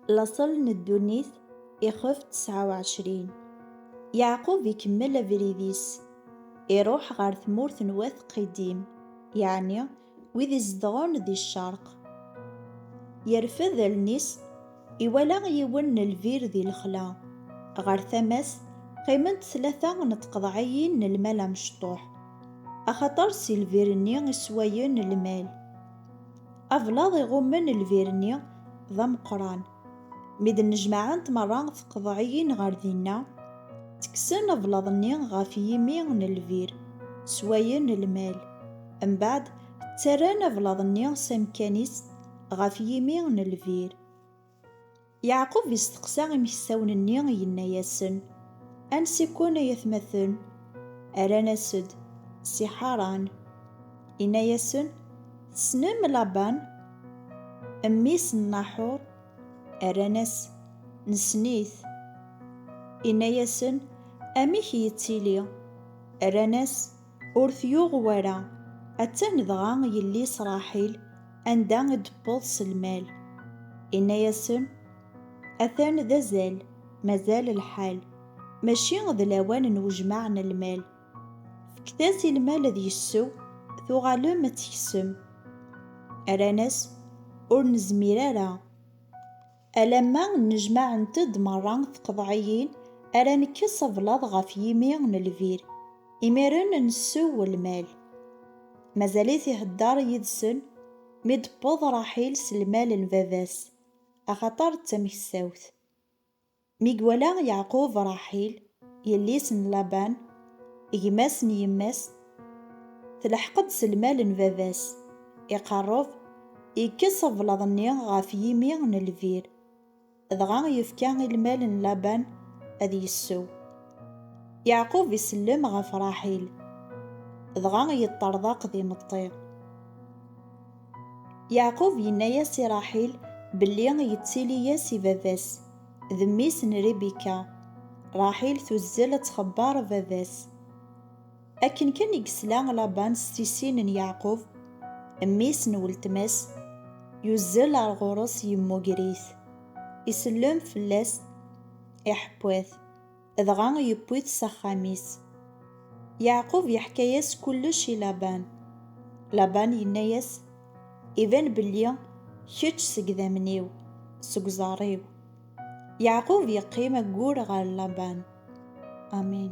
لاصل n ddunit ixef 29 Yeɛqub ikemmel abrid-is, iruḥ ɣer tmurt n wat Qidim, yeɛni wid izedɣen di ccerq. Yerfed allen-is, iwala yiwen n lbir di lexla, ɣer tama-s qqiment tlata n tqeḍɛiyin n lmal amecṭuḥ, axaṭer si lbir-nni i sswayen lmal. Ablaḍ iɣummen lbir-nni d ameqqran. Mi d-nnejmaɛent merra tqeḍɛiyin ɣer dinna, ttekksen ablaḍ-nni ɣef yimi n lbir, swayen lmal. Mbeɛd, ttarran ablaḍ-nni s amekkan-is ɣef yimi n lbir. Yeɛqub isteqsa imeksawen-nni, yenna-yasen, Ansi-ken, ay atmaten? Rran-as-d, Si Ḥaṛan. Inna-yasen, Tessnem Laban? Mmi-s n Naḥuṛ? Rran-as, Nessen-it. Inna-yasen, Amek yettili? Rran-as, Ur t-yuɣ wara. Attan dɣa yelli-s Ṛaḥil anda i d-tewweḍ s lmal. Inna-yasen, Atan d azal, mazal lḥal, mačči d lawan n wejmaɛ n lmal. Fket-as i lmal ad yessew, tuɣalem ad teksem. Rran-as, Ur nezmir ara. Alamma nnejmaɛent-d merra tqeḍɛiyin ara nekkes ablaḍ ɣef yimi n lbir, imiren nessew lmal. Mazal-it ihedder yid-sen mi d-tewweḍ Raḥil s lmal n baba-s, axaṭer d tamekstawt. Mi iwala Yeɛqub Raḥil, Yelli-s n Laban, gma-s n yemma-s, telḥeq-d s lmal n baba-s, iqerreb, yekkes ablaḍ-nni ɣef yimi n lbir, dɣa yefka i lmal n Laban ad yessew. Yeɛqub isellem ɣef Raḥil, dɣa yeṭṭerḍeq d imeṭṭi. Yeɛqub yenna-as i Raḥil belli yettili-as i baba-s, D mmi-s n Ribika. Raḥil tuzzel ad txebber baba-s. Akken kan i yesla Laban s tissin n Yeɛqub, mmi-s n weltma-s, yuzzel ar ɣur-s yemmuger-it, isellem fell-as, iḥeww-it. dɣa yewwi-t s axxam-is. Yeɛqub yeḥka-yas kullec i Laban. Laban yenna-yas, Iban belli kečč seg idammen-iw, seg uẓar-iw. Yeɛqub yeqqim aggur ɣer Laban. Amin.